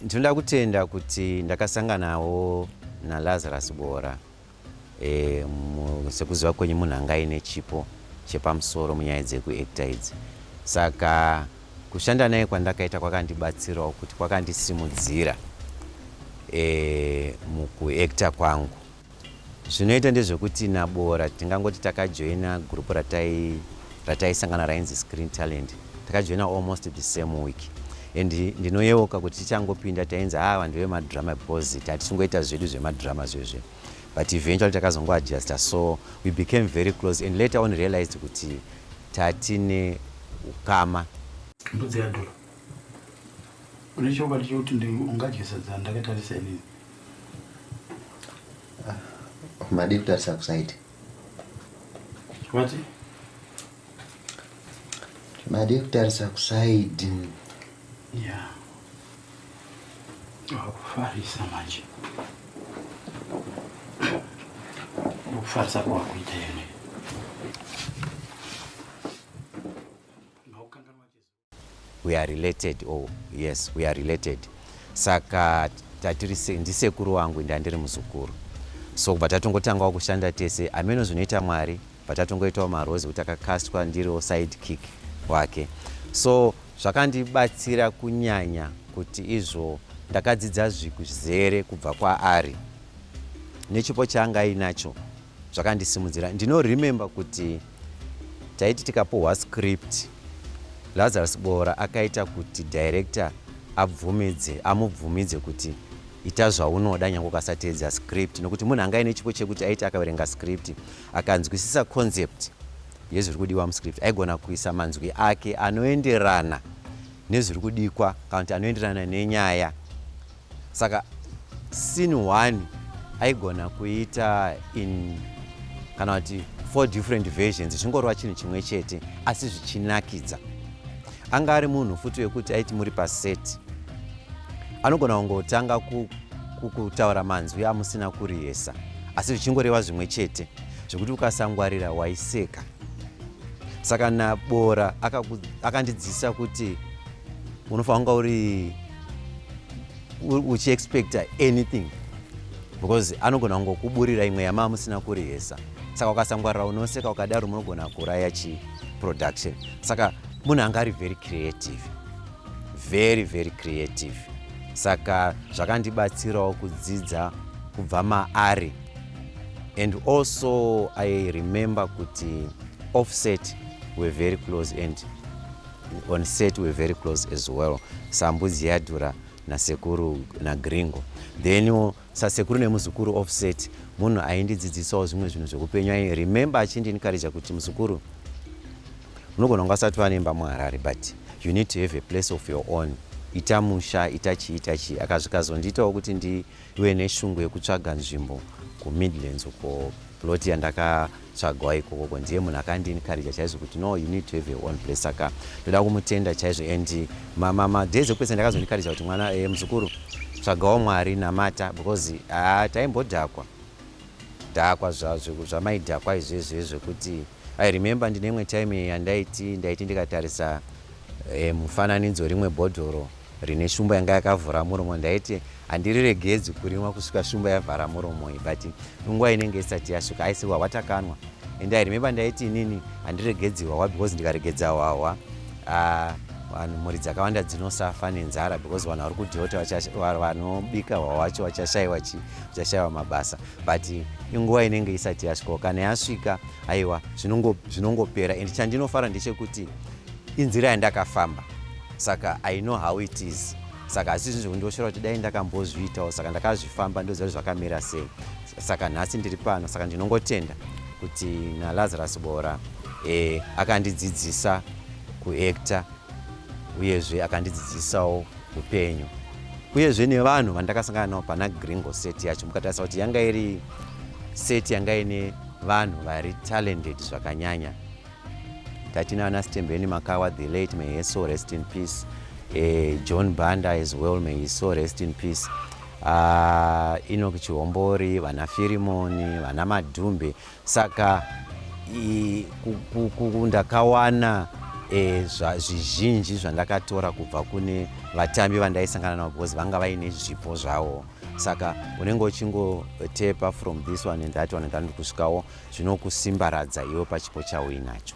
Ndinoda kutenda kuti ndakasanganawo naLazarus Boora e, sekuziva kwenyu munhu anga aine chipo chepamusoro munyaya dzekuekta idzi saka kushanda naye kwandakaita kwakandibatsirawo kuti kwakandisimudzira e, mukuekta kwangu Zvinoita ndezvekuti naBoora tingangoti takajoina group ratai rataisangana rainzi Screen Talent. Takajoina almost the same week. And ndinoyeuka kuti tichangopinda tainzi haa vanhu vemadrama because tatichingoita zvedu zvemadrama zvezve. But eventually takazongoadjusta so we became very close and later on realized kuti tatine ukama. Mbudzi yaDola. Une chokwadi chokuti ndingadyisa dzana ndakatarisa inini. Madii kutarisa kusaidi? What? Madii kutarisa kusaidi? Yeah. Wakufarisa manje. Wakufarisa kwakuita yene. We are related. Oh, yes, we are related. Saka tatiri ndisekuru wangu ndandiri muzukuru. So kubva tatongotangawo kushanda tese ameno zvinoita Mwari but atongoitawo marozi kuti akakastwa ndiriwo side kick wake so zvakandibatsira kunyanya kuti izvo ndakadzidza zvizere kubva kwaari nechipo chaanga ainacho zvakandisimudzira ndino remember kuti taiti tikapuhwa script lazarus boora akaita kuti director abvumidze amubvumidze kuti ita zvaunoda nyange ukasateedza script nokuti munhu anga aine chipo chekuti aiti akaverenga script akanzwisisa concept yezviri kudiwa muscript aigona kuisa manzwi ake anoenderana nezviri kudikwa kana kuti anoenderana nenyaya saka scene one aigona kuita in kana kuti four different versions zvingorova chinhu chimwe chete asi zvichinakidza anga ari munhu futi wekuti aiti muri paseti anogona kungotanga kutaura manzwi amusina kurihesa asi zvichingoreva zvimwe chete zvekuti ukasangwarira waiseka saka nabora akandidzisa kuti unofanira uri uchiexpecta anything because anogona kungokuburira imwe yamaa musina kurihesa saka ukasangwarira unoseka ukadaro munogona kuraya chi production saka munhu anga ari very creative very very creative saka zvakandibatsirawo kudzidza kubva maari and also i remember kuti offset were very close and On set we're very close as well. Sambudzi yadhura nasekuru nagringo then sasekuru nemuzukuru offset munhu aindidzidzisawo zvimwe zvinhu zvekupenya i remember achindinikarija kuti muzukuru unogona kunge asati vanemba muharare but you need to have a place of your own ita musha ita chii ita chii akazvikazondiitawo kuti Ndiwe neshungu yekutsvaga nzvimbo kuMidlands uko plot yandakatsvagwa ikokoko ndiye munhu akandinikarija chaizvo kuti no you need to have your own place saka ndoda kumutenda chaizvo and madays ekupesa ndakazonikarija kuti mwana e, muzukuru tsvagawo mwari namata because ah, taimbodhakwa dhakwa zvamaidhakwa izvezvo zvekuti i remember ndine imwe time yandaiti ndaiti ndikatarisa Ehe mufananidzo rimwe bhodhoro rine shumba yanga yakavhura muromo ndaiti handiriregedzi kurimwa kusvika shumba yavhara muromo iyi but nguva inenge isati yasvika aisi hwahwa takanwa and i remember ndaiti inini handiregedzi hwahwa because ndikaregedza hwahwa ah, vanhu mhuri dzakawanda dzinosafa nenzara because vanhu vari kudhota vanobika hwahwa wacho vachashaiwa chi vachashaiwa mabasa but inguva inenge isati yasvikawo kana yasvika aiwa zvinongopera and chandinofara ndechekuti inzira yandakafamba saka i know how it is saka asi zvinhu zvekundiosvera kuti dai ndakambozviitawo saka ndakazvifamba ndoziva kuti zvakamira sei saka nhasi ndiri pano saka ndinongotenda kuti nalazarus bora e, akandidzidzisa kuacta uyezve akandidzidzisawo upenyu uyezve nevanhu vandakasangana navo pana gringo seti yacho mukatarisa kuti yanga iri seti yanga ine vanhu vari talented zvakanyanya tatina ana stembeni makawa the late may his soul rest in peace eh, john banda as well may his soul rest in peace uh, ah, inoki chihombori vana firimoni vana madhumbe saka ndakawana e, zva, zvizhinji zvandakatora kubva kune vatambi vandaisangana navo because vanga vaine zvipo zvavo saka unenge uchingotepa from this one and that one and that kusvikawo zvinokusimbaradza iwe pachipo chauinacho